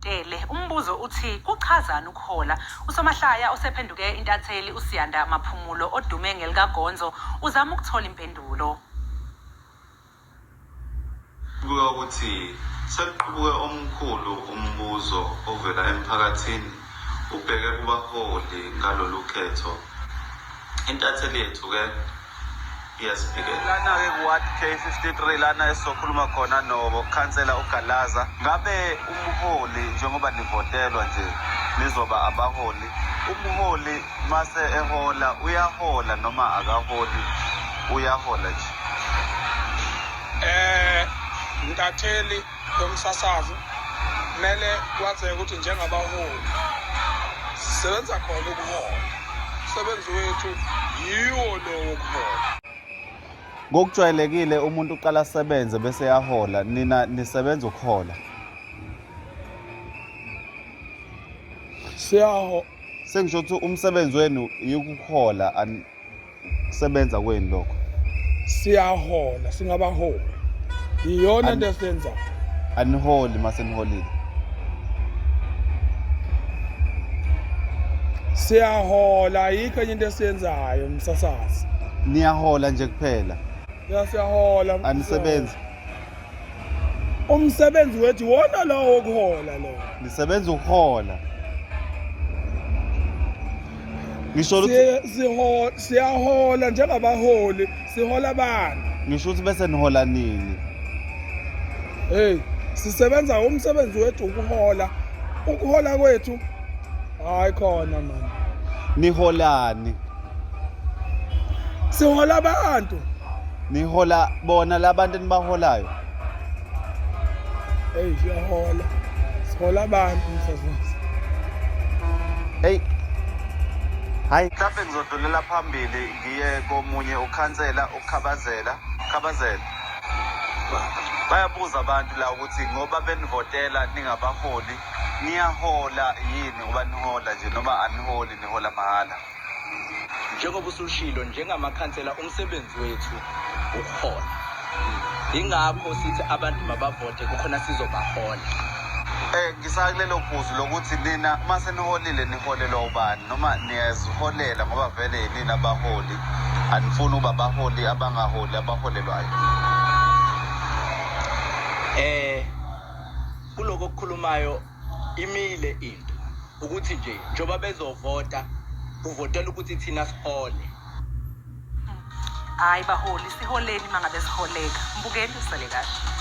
Tele. Umbuzo uthi kuchazani ukuhola? Usomahlaya osephenduke intatheli uSiyanda Maphumulo odume ngelikaGonzo uzama ukuthola impendulo. Kubuka ukuthi sekuqubuke omkhulu umbuzo ovela emphakathini ubheke kubaholi ngalolu khetho. Intatheli yethu-ke Iyasiphikela. Lana-ke kuWard K53 lana esizokhuluma khona nokhansela uGalaza. Ngabe umholi njengoba nivotelwa nje nizoba abaholi, umholi mase ehola uyahola noma akaholi uyahola nje? Eh, Ntatheli Lomsasazi kumele kwazeke ukuthi njengabaholi sisebenza khona ukuhola. Umsebenzi wethu yiwo lo wokuhola. Ngokujwayelekile umuntu uqala asebenze bese yahola, nina nisebenza ukuhola. Siyaho sengisho ukuthi umsebenzi wenu yikuhola Sebenza kweni lokho. Siyahola, singabahola. Iyona into esiyenzayo. Aniholi mase niholile. Siyahola ayikho enye into esiyenzayo msasazi. Niyahola nje kuphela. Ya siyahola. Anisebenzi. Umsebenzi wethu wona lowo wokuhola lo. Nisebenza ukuhola. ngisho ukuthi siyahola njengabaholi sihola abantu ngisho ukuthi bese nihola nini hey sisebenza umsebenzi wethu ukuhola ukuhola kwethu hayi khona mani niholani sihola abantu nihola bona labantu enibaholayo Hey, siyahola. Sihola abantu msazisi. Hey. Hayi. Mhlawumbe ngizodlulela phambili ngiye komunye ukhansela ukukhabazela. Khabazela. Bayabuza abantu la ukuthi ngoba benivotela ningabaholi niyahola yini ngoba nihola nje noma aniholi nihola mahhala. Njengoba usushilo njengamakhansela umsebenzi wethu ukuhola. Ingakho sithi abantu mabavote kukhona sizobahola. Eh ngisakulelo phuzu lokuthi nina uma seniholile niholela ubani noma niyaziholela ngoba vele yini abaholi anifuni uba baholi abangaholi abaholelwayo. Eh kuloko okukhulumayo Imile into ukuthi nje njengoba bezovota kuvotela ukuthi thina sihole. Hayi baholi siholeni mangabe siholeka. Mbukeni usale kahle.